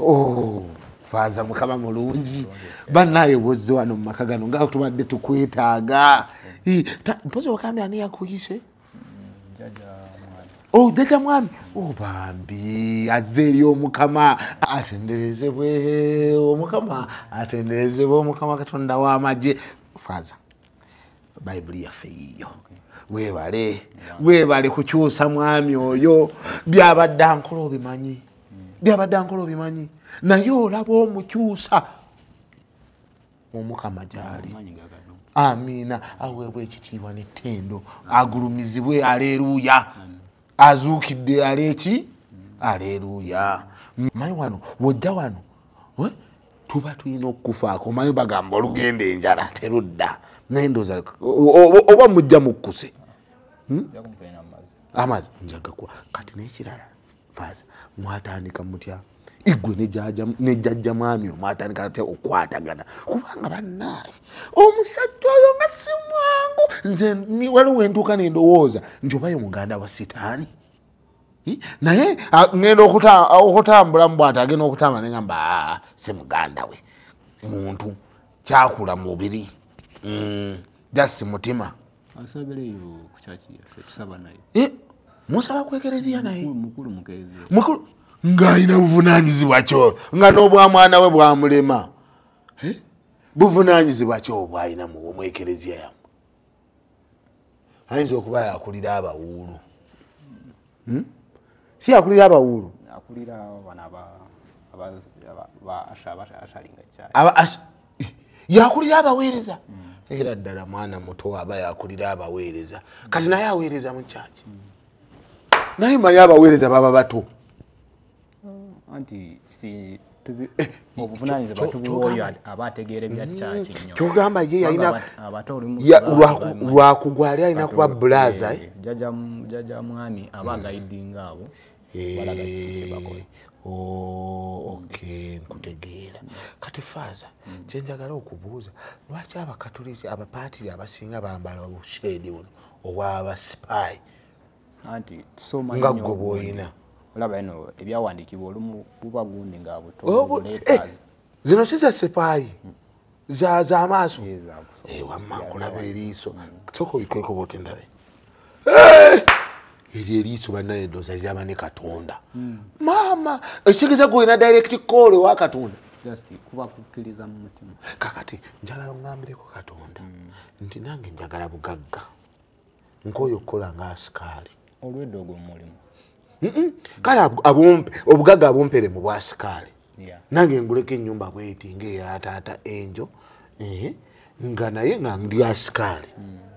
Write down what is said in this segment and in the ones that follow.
Oh, faaza mukama mulungi banaye bwozze wano mu maka gano nga tubadde tukwetaaga mpozi wakambye ani yakuyise mm, oh, jaja mwami oh, bambi azze eri omukama atenderezebwe omukama atenderezebwe omukama katonda w'amagye faaza bayibuli yaffe yiiyo webale webale kukyusa mwami oyo byabadde ankola obimanyi byabadde ankola obimanyi naye olaba omukyusa omukama gyali amiina aweebwa ekitiibwa nettendo agulumizibwe aleeruuya azuukidde aleeki aleeruuya mayi wano wojja wano eh? tuba tulina okukufaako mayi bagamba olugenda enjala terudda naye ndoza oba mujja mukkuse hmm? amazi njagakuwa kati nekirala faaza mwatandika mutya igwe ne jajja mwami omwatandika ate okwatagana kubanga bannaaye omusajja oyo nga si mwangu nze waliwo entuuka nendowooza nti obayo muganda wa sitaani naye ngenda okutambula mubwati agenda okutambula nengamba si muganda we muntu kyakula mubiri mm, just mutima Eh, musaba ku ekereziya naye mukulu ng'alina buvunaanyizibwa kyo nga n'obwamwana we bwamulema eh? buvunaanyizibwa kyo obwalina mu ekereziya yamu ayinza okuba yakulira abawuulu hmm? si yakulira abawuulu yakulira abaweereza era ddala mwana muto aba yakulira abaweereza kati naye aweereza mu kyaki naye maye abaweereza baba bato kyogamba ye yalina lwakugwa ali alina kuba bulaza eh? eh, oh, okay nkutegeera kati faaza hmm. kyenjagala okubuuza lwaki abakatuliki abapaatiri abasinga bambala obushedi buno obwabasipayi nga gwe bwoyina olaba eno ebyawandiikibwa olumu buba gundi nga butoletas eh, zino si za sipaayi hmm. zaza amaaso eh, wamma nkulaba eriiso mm. sooka obikweko bwoti ndabe eh! eryo eriiso banaye edoza lyaba ne katonda mm. maama ekitegeeza gwe olina direct call ewa katonda kakati njagala ongambireko katonda mm. nti nange njagala bugagga nkooye okukola nga asikaali olwedda ogwo mulimu kale obugaga abumpere mu bwasikaali nange nguleko enyumba bweti ngaeyataata enjo nga naye nga ndi asikaali hmm.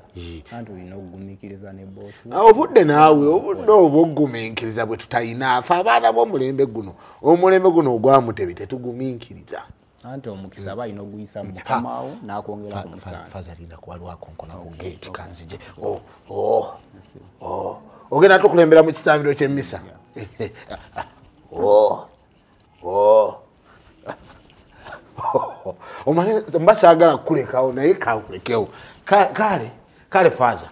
Ah, obudde naawe obudde obwoguminkiriza bwe tutalina afe abaana bomulembe guno omulembe guno ogwamutebi tetuguminkiriza anti omukisa aba alina oguyisa mukamawo nakwongera ku musafaza alinda kuba lwakonkona ku gate kanzije oh, oh, oh. ogenda tukulembera mu kitambiro kyemisa omanyi mba sagala kukulekawo naye kankulekewo kale kale faza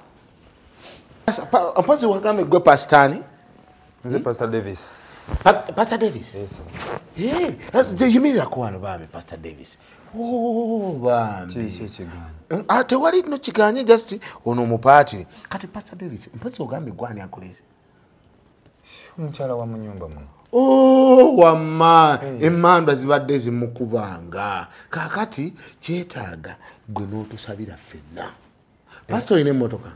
mpozi wagambye gwe pasitani nze pastor davis pa, pastor davis yes, hey, eh, yimiriraku wano bambi pastor davis oh, bambi ah, tewali no kiganye just ono omupaati kati pastor davis mpozi ogambye gwani akuleze omukyala wa munyumba muno Oh, wamma hmm. emandwa zibadde zimukubanga kakati kyetaaga gwe n'otusabira ffenna pasita olina emotoka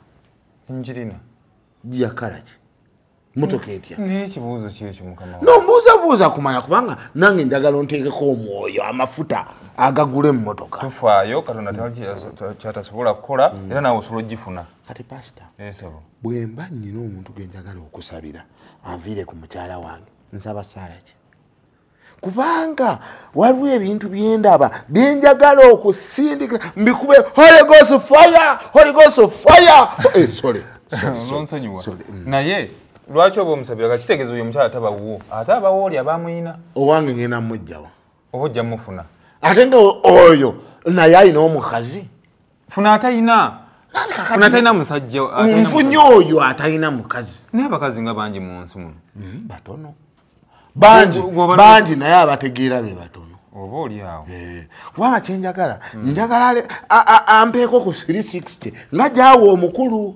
njirina yakalaki motoka etya naye ekibuuzo kyekyo mukama no mbuuza buuza kumanya kubanga nange njagala onteekeko omwoyo amafuta agagula emotoka tufaayo katonda kyatasobola kukola mm. era nawe osobola ogifuna kati pasita esebo bwemba nnyina omuntu genjagala okusabira anviire ku mukyala wange nsaba saala ki kubanga waliwo ebintu byendaba byenjagala okusindika mbikube holigos fire holigos fire eh, sorry mm. naye lwaki oba omusabira kakitegeeza oyo omukyala tabawuwo ate abawo oli abamuyina owange ngenda mujjawa oba ojja mufuna ate nga oyo naye alina omukazi funa atayina funa atayina musajja nfunye oyo atayina mukazi naye abakazi nga bangi mu nsi muno hmm, batono bangi bangi naye abategeera be batono oba olyawo eh, kubanga kyenjagala hmm. njagala ampeeko ku 360 nga gyawa omukulu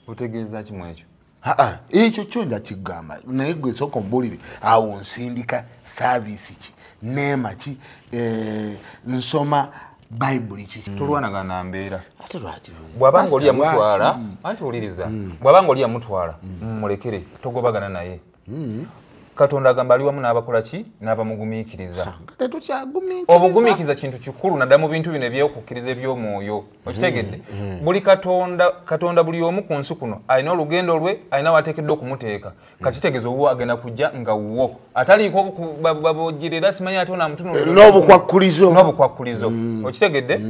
otegeeza kimu ekyo aa ekyo kyo nja kigamba naye gwe sooka ombulire awo nsindika saavisi ki neema ki eh, nsoma bayibuli kiki mm. tulwanagana mbeera ate lwaki bw'aba nga oli yamutwala anti wuliriza mm. bw'aba nga oli yamutwala mm. mumulekere togobagana naye hmm. katonda agamba ali wamu n'abakola ki n'abamugumiikiriza obugumiikiriza kintu kikulu naddala mu bintu bino ebyokukkiriza eby'omwoyo hmm. okitegedde hmm. buli katonda katonda buli omu ku nsi kuno alina olugendo lwe alina wateekeddwa okumuteeka kakitegeeza obuwa agenda kujja nga wuwo ataliiko babojjerera simanyi ate onaamutunuln'obukwakkulizo n'obukwakkulizo okitegedde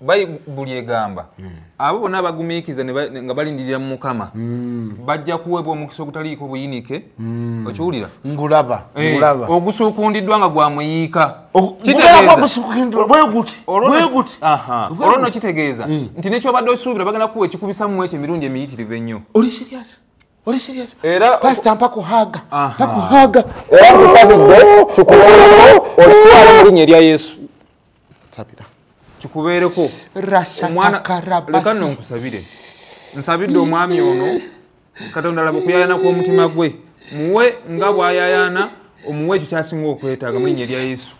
bayibuli egamba hmm. abo bona abagumiikiza nga balindirira mu mukama hmm. bajja kuweebwa omukisa ogutaliiko buyinike hmm. okiwulira ngulaba eh, ogusukundiddwa nga gwa muyiika olwo no kitegeeza nti nekyobadde osuubira bagenda kuwa ekikubisa mu ekyo emirundi emiyitirivu ennyo Oli serious? Era pasta mpa kuhaga. Mpa kuhaga. Era mfadde kikuwa. Otuwa mu linye lya Yesu. sabira kikubeereko rashatakarabasi no nkusabire nsabidde omwami ono katonda laba okuyayana kw'omutima gwe muwe nga bwayayana omuwe ekyo kyasinga okwetaaga mulinya erya yesu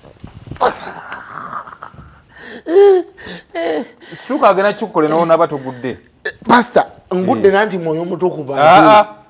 situka agenda kikukolenawo naba togudde pasta ngudde nanti mwoyo omutukuva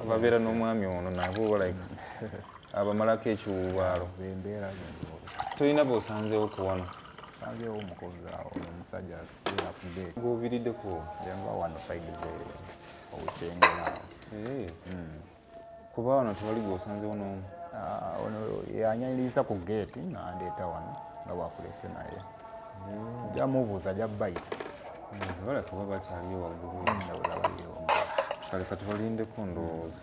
ababeera n'omwami ono nabo like abamalako ekiwuubaalo tolina bosanzeewo ku wano sanzeewo omukozi awo omusajja akude gwovirideko yava wano faigze owukyengera kuba wano tewali gwosanzewo n'omu ah, ono yanyanyiriza ku geeti nandeeta wano nga bwakulese naye hmm. jamubuuza jabbaita zibala kuba bakyaliyo waggulu hmm, kale katubalindeko ndowooza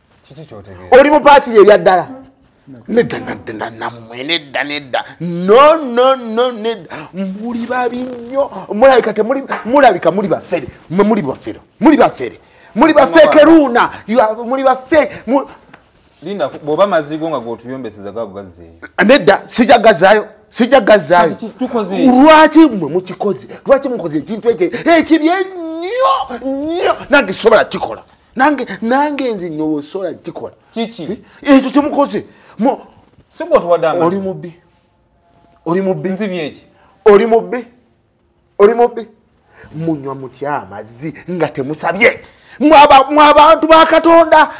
oli mupatiri ebya ddala nedda naddena namwe nedda nedda no no no nedda muli babi nnyo mulabika temuli mulabika muli bafere mwe muli bafere muli bafere muli bafekeruuna muli bafe linda bwoba amazigo nga gotuyombeseza gago gazeeyo nedda sija gazaayo sija gazaayo lwaki mwe mukikoze lwaki mukoze ekintu ekyo ekibi ennyo nnyo nange sobola kikola nange nange nze nyowo sola kikola kiki eh, ekyo kyemukoze oli mubbi oli mubbi nzibyeki oli mubbi oli mubbi munywa mutya amazzi nga temusabye mwabantu bakatonda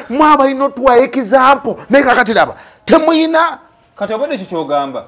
mwabalina otuwa ekizampo naye kakati laba temuyina kati obadde ekyo kyogamba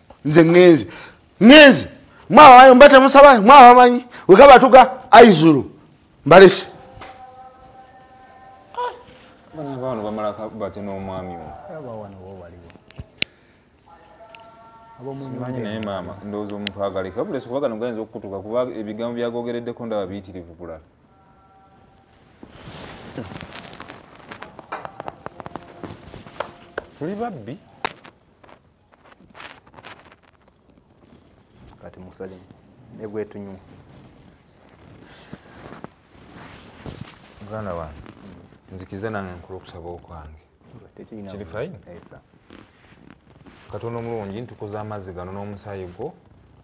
nze ngenze ngenze mwabamanyi mba temusaba mwabamanyi wekaba tuga aizulu mbalese naye maama ndowooza omupaagaleka bulesi kuba gano gayinza okukutuka kuba ebigambo byagogereddeko ndaba biyitirivu kulala tuli babbi kati musalemu negwetunywa muganda wange nzikiza nange nkula okusaba okwange kiri fayini katonda omulungi ntukoze amazzi gano n'omusaayi gwo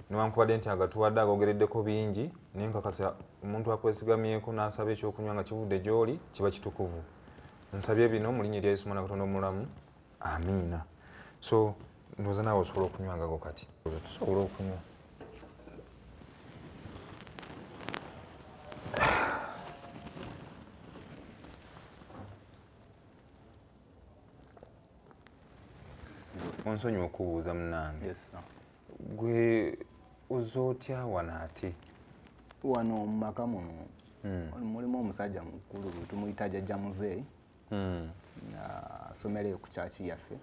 newankubadde nti agatuwadde agogereddeko bingi naye nkakasa omuntu akwesigamyeko n'asaba ekyokunywa nga kivudde gy'oli kiba kitukuvu nsabye bino mu linnya erya yesu mwana katonda omulamu amiina so ndoza naawe osobola okunywa ngago kati tusobola okunywa onsonyi okubuuza munange gwe oza otya wano ate wano mumaka muno hmm. mulimu omusajja mukulu tumuyita jajja muzeeyi hmm. asomereyo ku kyaki yaffe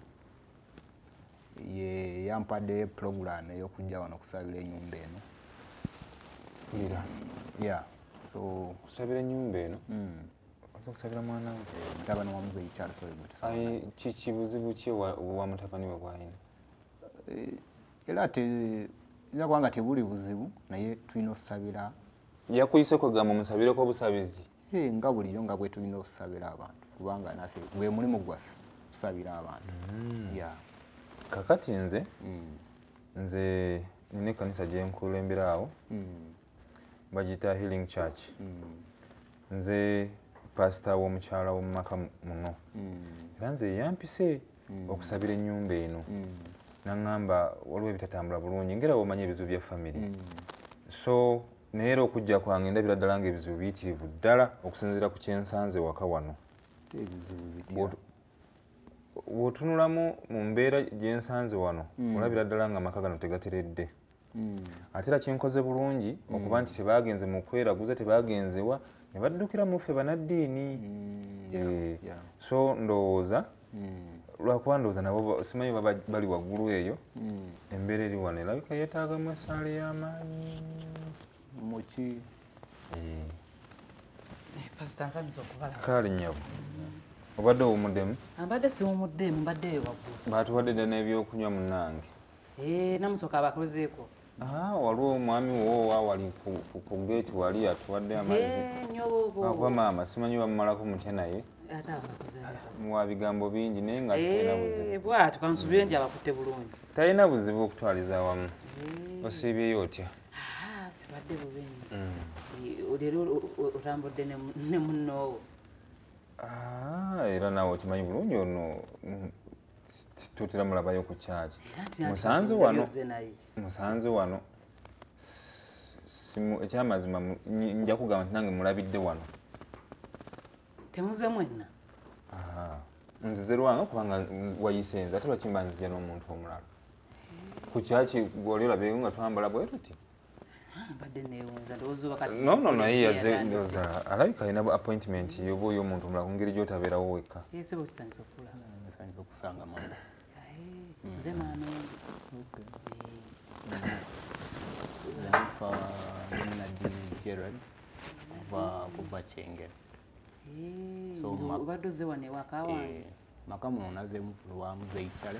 ye yampadde pulogulaamu ey'okujja wano okusabira enyumba eno ira ya so kusabira enyumba eno hmm. oza okusabira mwana we mutabani wa muzeyi charles oyo kiki buzibu ki wa mutabani we bwalina eh, era ate nza kubanga tebuli buzibu naye tulina okusabira yakuyise kwegamba musabireko obusabizi Hey, nga bulijo nga bwetulina okusabira abantu kubanga nafe gwe mulimu gwaffe kusabira abantu mm. yeah. kakati nze mm. nze nina ekanisa gyenkulembera awo mm. bagita healing church mm. nze pasita w'omukyala w'omumaka muno mm. era nze yampise mm. okusabira enyumba eno mm. naŋamba waliwo ebitatambula bulungi ngera womanya ebizibu bya famiry mm. so naye era okujja kwange ndabira ddala nga ebizibu biyitirivu ddala okusinziira ku kyensanze waka wano wotunulamu mu mbeera gyensanze wano olabira ddala nga amaka gano tegateredde hmm. ate era kyenkoze bulungi hmm. okuba nti tebagenze mu kweraguza tebagenzewa ne baddukira mu ffe banaddiini hmm, eh, so ndowooza lwakuba ndowooza nabo simanyi bali waggulu eyo embeera eri wano erabika yeetaagamu esaala ey'amaanyi muki eh. eh, kaali nyabo obadde owumuddemu abadde siwumuddemu mbadde eyo waggulu baatuwadde dda n'ebyokunywa munange Eh, namusoka abakozeeko ah, waliwo omwami wowa wali ku geeti wali atuwadde eh, amaziakuba maama simanyi bamumalako mutya naye muwa bigambo bingi naye nga eh, bwatyo kansubire nti abakutte bulungi talina buzibu okutwaliza wamu osiibyeyo otya ah, sibadde bubi mm. leero otambudde ne munnoowo ah, era naawe okimanyi bulungi ono mm, tutera mulabayo ku kyaki musanze wano musanze wano ekyamazima nja kugamba nti nange mulabidde wano temuze mwenna nzize lwanga kubanga wayise nze ate lwakimba nzija n'omuntu omulala ku kyaki gwoli olabyeko nga twambala bwe tuti no no naye yaze ndoza alabika alina appointment yoba oyo omuntu omulala ku ngeri gyotabeerawo wekka kuva kyengera obadde oze wano ewaka wange maka muno nazemu lwamuzeitale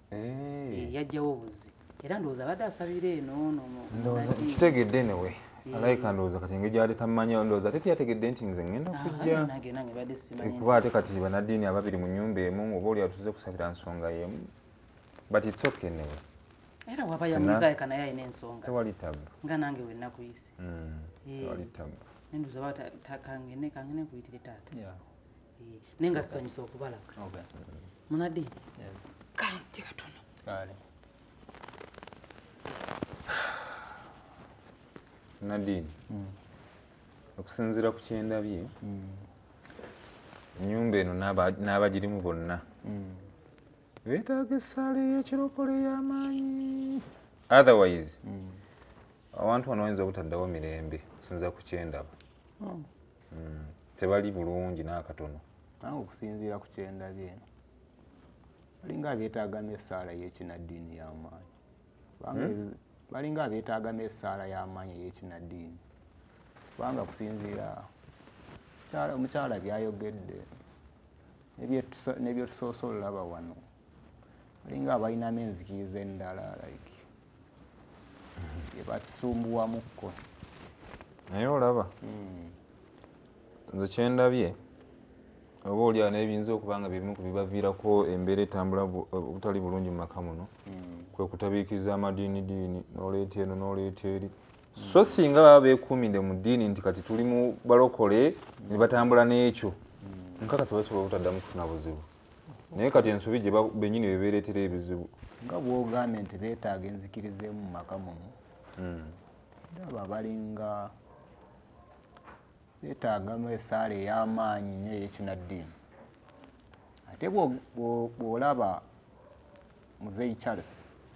eh. eh, yajjawo obuzi era ndowooza abadde asabira eno nokitegedde newe eh. alayika ndowooza kati engeri gyali tammanya ndowooza ate teyategedde nti nze ngenda ah, kujjakuba ate kati banaddiini ababiri mu nyumba emu oba oli atuze kusabira nsonga yemu but its okay newe era waba yamuzaika naye alina ensonga tewali tabu nga nange wenakuyise mm, tewali tabu nenduza ba kangene kangene nkuyitire taata Eh, naye nga tusanyusa okubalaba munadi kanzite katono nadine hmm. okusinziira ku kyendabye hmm. enyumba eno n'abagirimu bonna hmm. betaaga essaala eyekirokole y'amaanyi otherwise awantu wano wayinza obutaddawo mirembe okusinziira ku kyendaba oh. mm, tebali bulungi n'akatono nange okusinziira ku kyendabye eno balinga abeetaagamu essaala y'ekinaddiini y'amaanyi hmm? balinga abeetaagamu essaala y'amaanyi ey'ekinaddiini kubanga kusinziira omukyala byayogedde nebyetusoose olulaba wano alinga abalinamu enzikiriza endala like ebasumbuwamukko naye olaba hmm. nze kyendabye oba oli ana ebiyinza okuba nga byebimu ku bibaviirako embeera etambula obutali bulungi mu maka muno hmm. kwe kutabiikiriza amadiini diini noleeta eno noleeta eri so singa baba bekuumide mu ddiini nti kati tuli mu balokole ne batambula n'ekyo nkakasa basobola obutaddamu kufuna buzibu naye kati ensobi gye benyini bebeeretera ebizibu nga bwogambye nti beetaaga enzikiriza emu mumaka muno hmm. ndaba balinga beetaagamu esaala ey'amaanyi nyo eyekinaddiini ate bwolaba muzeyi charles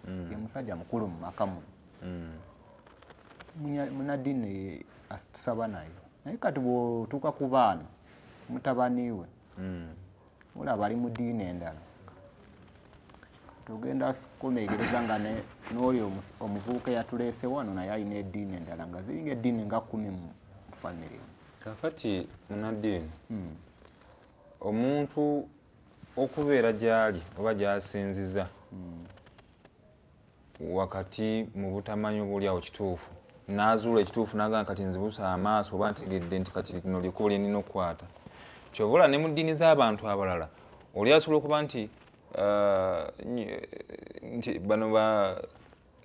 hmm. ye musajja mukulu mu maka muno hmm. munaddiini tusaba naye naye kati bwotuuka ku baana mutabaniwe hmm. mula bali mu diini endala tugenda kumegereza nga n'oyo omuvubuka eyatuleese wano naye alina ediini endala nga ziringa ediini nga kumi mu famire kakati munadiini hmm. omuntu okubeera gyali oba gyasinziza hmm. wakati mu butamanya obuli awo kituufu naazuula ekituufu nagamba kati nzibusa amaaso oba ntegedde nti kati lino likubo lye nina okukwata kyova olaba ne mu ddiini z'abantu abalala oli asobola okuba nti uh, nti bano ba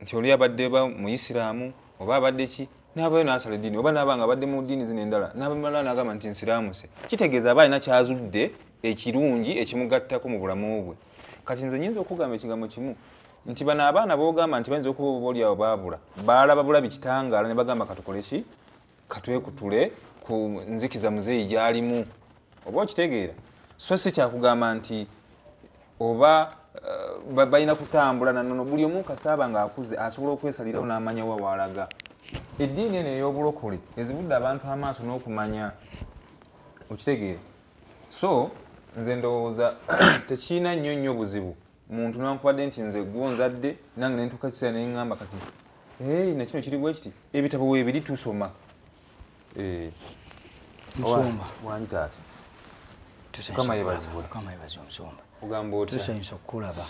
nti oli abadde ba muyisiraamu oba abadde ki navayo nasala eddiini oba naba nga abadde mu ddiini zino endala nabamala nagamba nti nsiraamuse kitegeeza aba alina kyazudde ekirungi ekimugattako mu bulamu bwe kati nze nyinza okugamba ekigambo kimu nti bano abaana bogamba nti bayinza okuba oba olyawo baabula baalaba bulabi kitangaala ne bagamba katukole ki katwekutule ku nzikiza muzeeyi gyalimu oba okitegeera so si kyakugamba nti oba eh, balina kutambula nanono buli omu kasaaba ngaakuze asobola okwesalirawo n'amanya wa waalaga eddiini eno ey'obulokole ezibudde abantu amaaso n'okumanya okitegeera so nze ndowooza tekirina nnyo nnyo buzibu muntu nankubadde nti nze gwo nzadde nange nentuuka ekiseera neŋŋamba kati hey, nakino kiri bwe kiti ebitabo webiri tusoma eh. musumba wani taata mukama yebazibwe ogamba otya tusanyusa okukulaba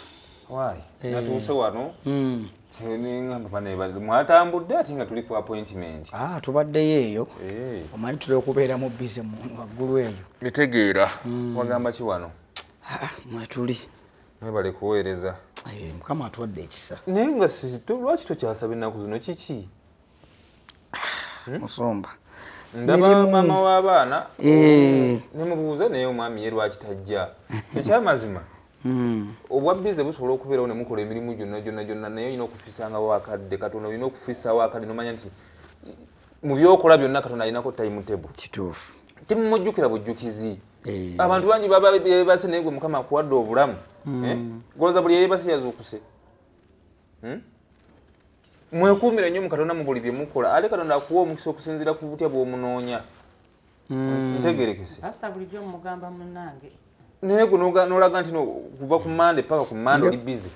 wayi eh. natuuse wano hmm. mwatambudde ate nga tuli ku appointment ah, tubaddeyo eyo eh. omanyi tuli okubeera mu bize waggulu eyo mitegeera hmm. wagamba ki wano ah, mwetuli mwebale kuweereza eh, mukama atuwadde ekisa naye nga lwaki tokyasaba ennaku zino kiki ah, hmm? musumba ndaba maama w'abaana eh. nemubuuza naye omwami ye lwaki tajja ekyamazima Hmm. obwa bize busobola okubeerawo ne mukola emirimu gyonna gyonna gyonna naye olina okufisangawo akadde katonda olina okufisawo akadde nomanya nti mu byokola byonna katonda alinako time table kituufu temumujjukira bujjukizi eh. abantu bangi babase naye gwe mukama akuwadde obulamu hmm. eh? goza buli eyebase yazuukuse hmm? mwekuumira nnyo mu katonda mu buli bye mukola ate katonda akuwa omukisa okusinziira ku butya bw'omunoonya mm. ntegerekese pastor bulijjo mugamba munange naye guno nolaga nti kuva ku mande paka ku mande oli busy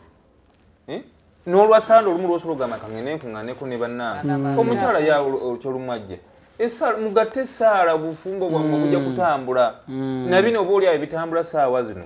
eh? nolwasande olumu lwosobola ogamba kangene nkuŋaneko ne bannange mm. omukyala ya kyolumu ajja mugatte esaala obufumbo bwamwe obujja mm. kutambula nabino oba oli awo ebitambula saawa zino